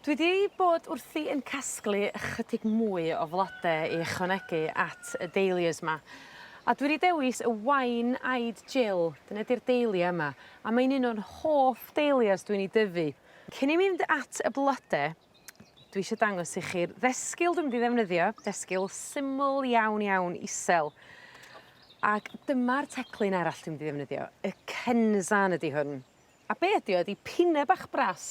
Dwi 'di bod wrthi yn casglu ychydig mwy o flode i ychwanegu at y dahlias 'ma a dwi 'di dewis y wine eyed Jill dyne 'di'r dahlia yma a mae'n un o'n hoff dahlias dwi'n 'i dyfu. Cyn i mi fynd at y blode dwi isio dangos i chi'r ddesgyl dwi mynd i ddefnyddio, desgyl syml iawn iawn isel ag dyma'r teclyn arall dwi mynd i ddefnyddio, y Kenzan ydi hwn. A be' ydi o ydi pine bach bras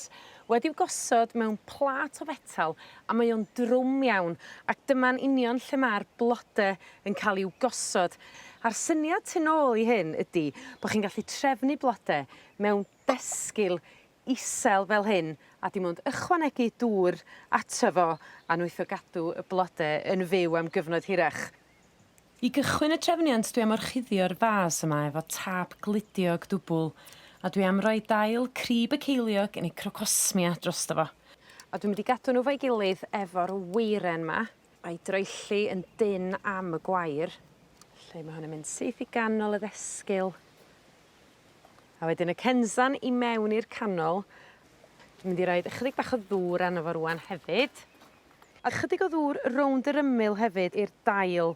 wedi'w gosod mewn plât o fetal a mae o'n drwm iawn ac dyma'n union lle ma'r blode yn ca'l i'w gosod a'r syniad tu nôl i hyn ydi bo' chi'n gallu trefnu blode mewn desgyl isel fel hyn a dim ond ychwanegu dŵr ato fo a nwtho gadw y blode yn fyw am gyfnod hirach. I gychwyn y trefniant dwi am orchuddio'r fas yma efo tâp gludiog dwbwl a dwi am roi dail crib y ceiliog neu crocosmia drosto fo. A dwi mynd i gadw n'w 'fo'i gilydd efo'r weiren 'ma a'i droelli yn dynn am y gwair. Felly ma' hwn yn mynd syth i ganol y ddesgyl. A wedyn y cenzan i mewn i'r canol. Dwi mynd i roid ychydig bach o ddŵr arno fo rŵan hefyd. A chydig o ddŵr rownd yr ymyl hefyd i'r dail.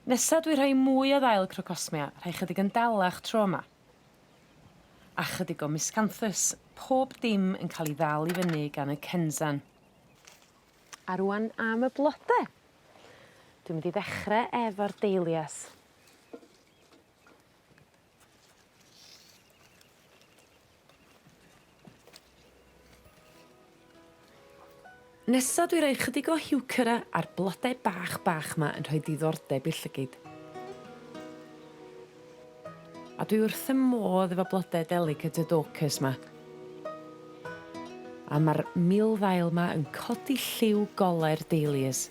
Nesa dwi rhoi mwy o ddail crocosmia, rhai chydig yn dalach tro 'ma. A chydig o miscanthus, pob dim yn ca'l 'i ddal i fyny gan y Kenzan. A rŵan am y blode. Dwi mynd i ddechre efo'r dahlias. Nesa dwi roi chydig o heuchera ar blode bach bach 'ma yn rhoi diddordeb i'r llygid. A dwi wrth fy modd efo blode delicate y Dorcas 'ma. A ma'r milddail 'ma yn codi lliw gole'r dahlias.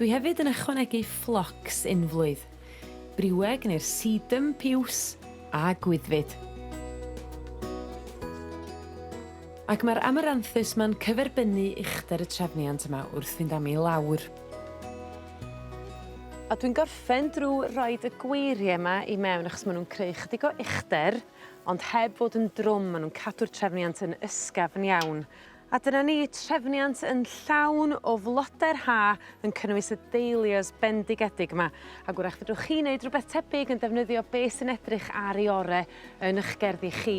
Dwi hefyd yn ychwanegu phlox unflwydd. Briweg neu'r Sedum piws a Gwyddfyd. Ac mae'r Amaranthus 'ma'n cyferbynnu uchder y trefniant yma wrth fynd am i lawr. A dwi'n gorffen drw roid y gweirie 'ma i mewn achos ma' nw'n creu chydig o uchder ond heb fod yn drwm ma' nw'n cadw'r trefniant yn ysgafn iawn. A dyna ni, trefniant yn llawn o flode'r Ha yn cynnwys y dahlias bendigedig 'ma, ag 'w'rach fedrwch chi neud rwbeth tebyg yn defnyddio be' sy'n edrych ar 'i ore' yn 'ych gerddi chi.